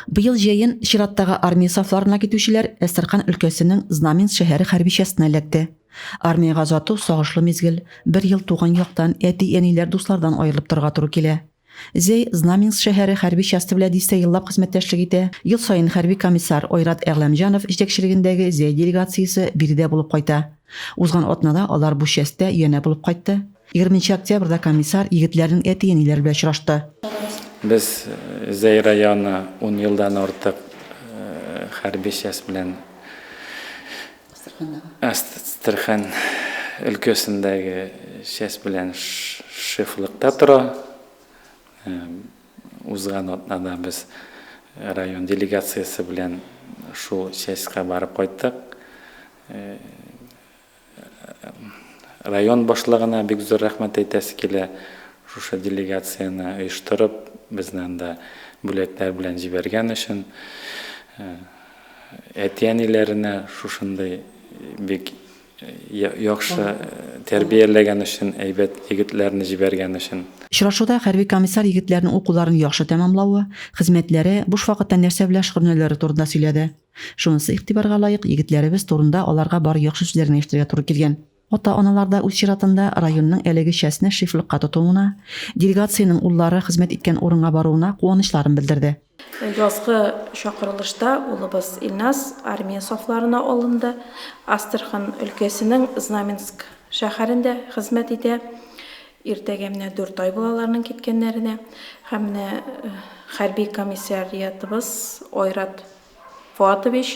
Быел җәен чираттагы армия сафларына китүчеләр Әстерхан өлкәсенең Знаменск шәһәре хәрбичәсенә эләкте. Армиягә озату сагышлы мизгел, бер ел туган яктан, әти-әниләр, дуслардан аерылып торырга туры килә. Зәй Знаменск шәһәре хәрби часте белән дистә еллап хезмәттәшлек итә, ел саен хәрби комиссар Айрат Әгъләмҗанов җитәкчелегендәге Зәй делегациясе биредә булып кайта. Узган атнада алар бу частьтә янә булып кайтты. Егерменче октябрьдә комиссар егетләрнең әти-әниләре белән очрашты. Без Зәй районы ун елдан артык хәрби часть белән Әстерхан өлкәсендәге часть белән шефлыкта тора. Узган атнада без район делегациясе белән шул частька барып кайттык. Район башлыгына бик зур рәхмәт әйтәсе килә, шушы делегацияне оештырып, безне анда бүләкләр белән җибәргән өчен. Әти-әниләренә шушындый бик яхшы тәрбияләгән өчен, әйбәт егетләрне җибәргән өчен. Очрашуда хәрби комиссар егетләрнең укуларын яхшы тәмамлавы, хезмәтләре, буш вакытта нәрсә белән шөгыльләнүләре турында сөйләде. Шунысы игътибарга лаек, егетләребез турында аларга бары яхшы сүзләрне ишетергә туры килгән. Ата-аналар да үз чиратында районның әлеге частьне шефлыкка тотуына, делегациянең уллары хезмәт иткән урынга баруына куанычларын белдерде. Язгы чакырылышта улыбыз Илназ армия сафларына алынды, Астрахань өлкәсенең Знаменск шәһәрендә хезмәт итә. Иртәгә менә дүрт ай була аларның киткәннәренә. Һәм менә хәрби комиссариатыбыз Айрат Фоатович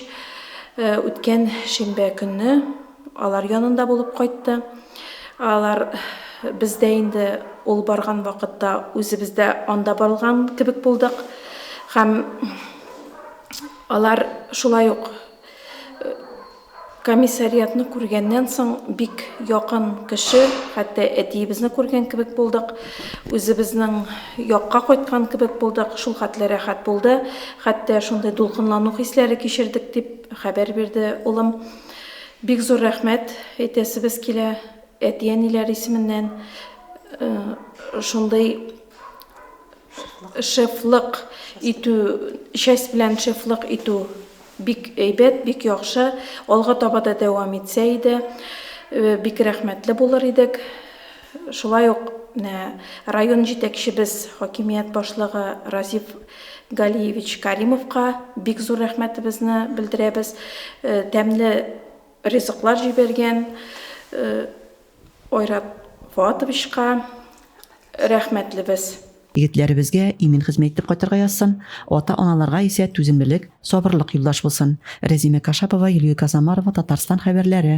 үткән шимбә көнне алар янында булып кайтты. Алар бездә инде ул барган вакытта үзебез дә анда барылган кебек булдык. Һәм алар шулай ук Комиссариатны күргәннән соң бик якын кеше, хәтта әтиебезне күргән кебек булдык, үзебезнең якка кайткан кебек булдык, шул хәтле рәхәт булды, хәтта шундый дулкынлану хисләре кичердек, дип хәбәр бирде улым. Бик зур рәхмәт әйтәсебез килә әти-әниләр исеменнән шундый шефлык итү, часть белән шефлык итү Бик әйбәт, бик яхшы. Алга таба да дәвам итсә иде, бик рәхмәтле булыр идек. Шулай ук менә район җитәкчебез, хакимият башлыгы Разиф Галиевич Каримовка бик зур рәхмәтебезне белдерәбез. Тәмле ризыклар җибәргән. Айрат Фоатовичка рәхмәтлебез. Егетләребезгә имин хезмәт итеп кайтырга язсын, ата-аналарга исә түземлелек, сабырлык юлдаш булсын. Рәзимә Кашапова, Юлия Казамарова, Татарстан хәбәрләре.